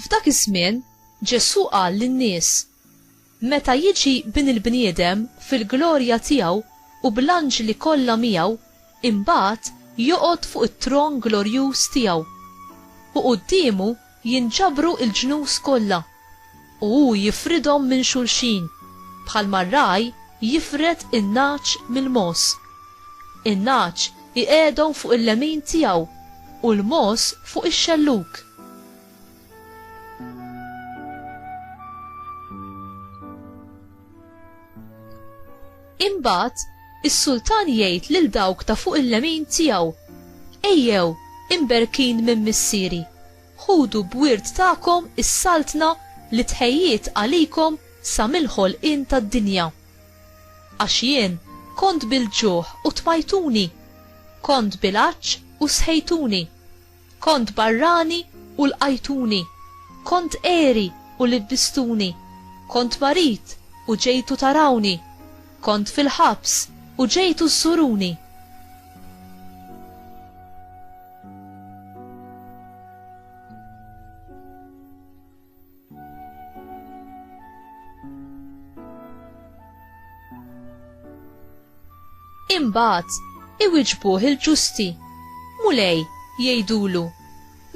F'dak iż-żmien Ġesù qal lin-nies Meta jiġi bin il-bniedem fil-glorja tiegħu u bl-anġli kollha miegħu, imbagħad joqgħod fuq it-tron glorjuż tiegħu. U quddiemu Jinġabru l-ġnus kollha, u hu jifridhom minn xulxin, bħalma r-ragħaj jifred in-nagħaġ mill-mogħoż. In-nagħaġ iqegħedhom fuq il-lemin tiegħu, u l-mogħoż fuq ix-xellug. Imbagħad is-sultan jgħid lil dawk ta' fuq il-lemin tiegħu, Ejjew, imberkin minn missieri, ħudu b'wirt tagħkom is-saltna li tħejjiet għalikom sa mill-ħolqien tad-dinja. Għax jien kont bil-ġuħ u tmajtuni, kont bil-għatx u sħejtuni, Kont barrani u lqajtuni, kont għeri u libbistuni, kont marid u ġejtu tarawni, kont fil-ħabs u ġejtu żżuruni. Imbagħad iwiġbuh il-ġusti. Mulej, jgħidulu,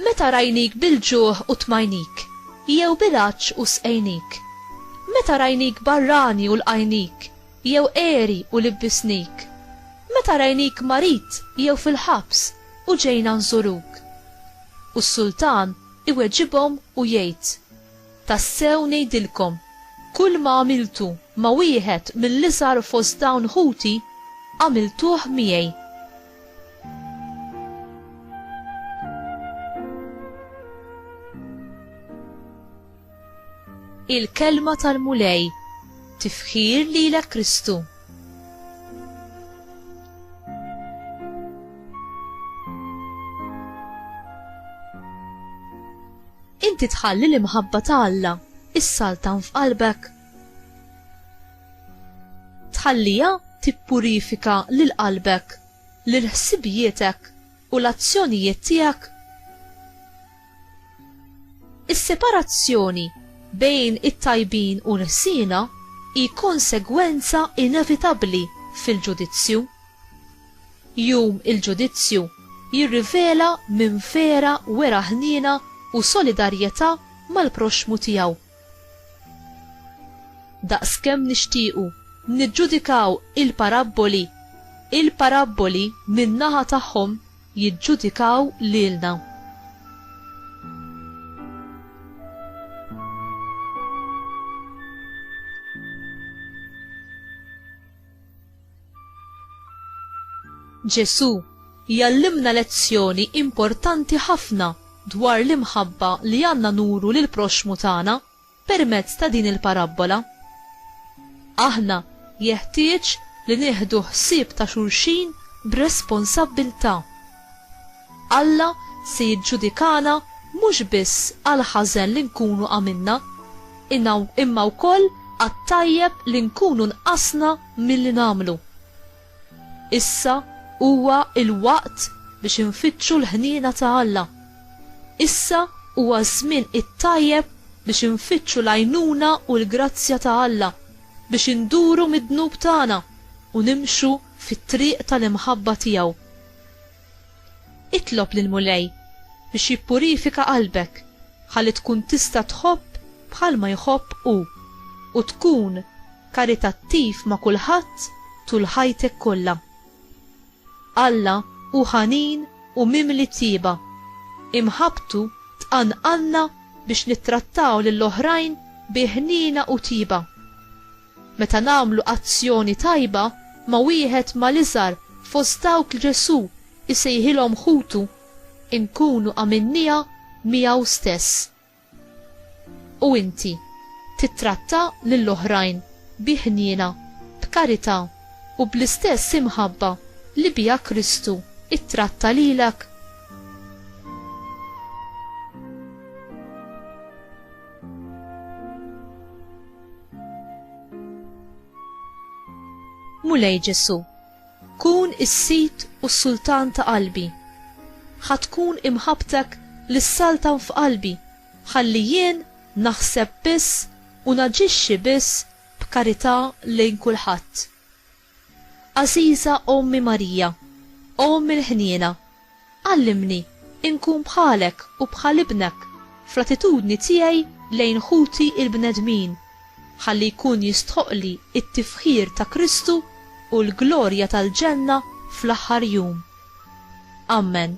meta rajnik bil-ġuħ u tmajnik, jew bil-għatx u sqejnik. Meta rajnik barrani u lqajnik, jew eri u libbisnik. Meta rajnik marid jew fil-ħabs u ġejna nżuruk. U s-sultan Iweġibhom u jgħid, Tassew ngħidilkom, kulma għamiltu ma' wieħed mill-iżgħar fost dawn ħuti, għamiltuh miegħi. Il-Kelma tal-Mulej Tifħir lilek Kristu. Inti tħalli l-imħabba ta' Alla issaltan f'qalbek. Tħallija tippurifika lil qalbek, lil ħsibietek u l-azzjonijiet tiegħek. Is-separazzjoni bejn it-tajbin u l-ħsiena hi konsegwenza inevitabbli fil-ġudizzju. Jum il-Ġudizzju jirrivela min vera wera ħniena u solidarjetà mal-proxxmu tiegħu. Daqskemm nixtiequ niġġudikaw il-parabboli, il-parabboli min-naħa tagħhom jiġġudikaw lilna. Ġesù jgħallimna lezzjoni importanti ħafna dwar l-imħabba li għandna nuru lill-proxxmu tagħna Permezz ta' din il-parabbola, aħna jeħtieġ li nieħdu ħsieb ta' xulxin b'responsabbiltà. Alla se jiġġudikana mhux biss għall-ħażen li nkunu għamilna, imma wkoll għat-tajjeb li nkunu nqasna milli nagħmlu. Issa huwa l-waqt biex infittxu l-ħniena ta' Alla. Issa huwa ż-żmien it-tajjeb biex infittxu l-għajnuna u l-grazzja ta' Alla biex induru mid-dnub tagħna u nimxu fit-triq tal-imħabba tiegħu. Itlob lill-Mulej biex jippurifika qalbek ħalli tkun tista' tħobb bħalma jħobb Hu u tkun karitattiv ma' kulħadd tul ħajtek kollha. Alla hu ħanin u mimli tjieba. Imħabbtu tqanqalna biex nittrattaw lill-oħrajn bi ħniena u tjieba. Meta nagħmlu azzjoni tajba ma' wieħed mal-iżgħar fost dawk li Ġesù jsejħilhom ħutu, inkunu għamilniha miegħu stess. U inti, tittratta lill-oħrajn bi ħniena, b'karità, u bl-istess imħabba li biha Kristu ttratta lilek? Mulej Ġesu, kun is-sid u s-sultan ta' qalbi. Ħa tkun imħabbtek li ssaltan f'qalbi ħalli jien naħseb biss u naġixxi biss b'karità lejn kulħadd. Għażiża Ommi Marija, O Omm il-Ħniena, għallimni nkun bħalek u bħal Ibnek fl-attitudni tiegħi lejn ħuti l-bnedmin, ħalli jkun jistħoqqli t-tifħir ta' Kristu u l-glorja tal-ġenna fl-aħħar jum. Ammen.